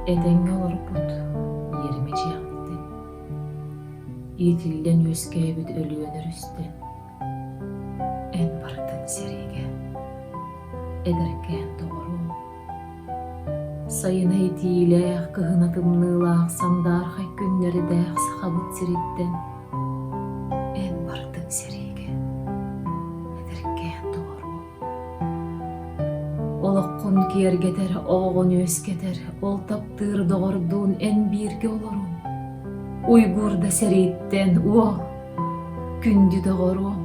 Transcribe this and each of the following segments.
Этэҥҥэ олорбут иэримэ чыахтым. Иитиллэн үөскээбит Өлүөнэ Рүстэ. Эн барытын сэриигэ. Эдэркээн доҕорум. Сайына итиилээх, кыһына тымныылаах, сандаархай күннэрдээх Сахабыт сириттэн. Эн барытын сэриигэ. Олоххун киэргэтэр оҕоҕун үөскэтэр ол таптыыр доҕордуун эн бииргэ олоруом уйгуур да сэрииттэн уо күндү доҕоруом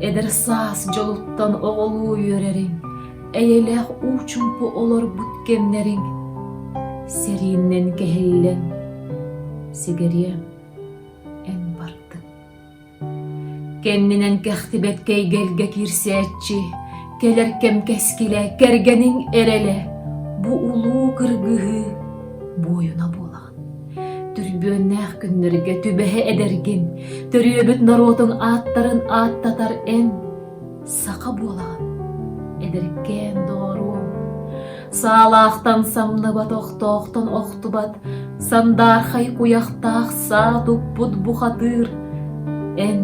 эдэр саас дьолуттан оҕолуу үөрэриҥ эйэлээх уу чумпу олорбут кэмнэриҥ сэрииннэн кэһиллэн сигэриэм эн бардыҥ Кэннинэн кэхтибэт кэйгэлгэ киирсээччи, кэлэр кэм кэскилэ, кэргэниҥ эрэлэ, бу улуу кыргыһыы буойуна буолаҕын. Түрбүөннээх күннэргэ түбэһэ эдэргин, төрүөбүт норуотуҥ ааттарын ааттатар эн саха буолаҕын эдэркээн доҕоруом саалаахтан самныбат охтоохтон охтубат сандаархай куйахтаах саа туппут бухатыыр эн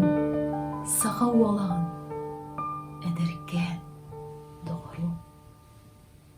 саха уолаҕын эдэркээн доҕоруом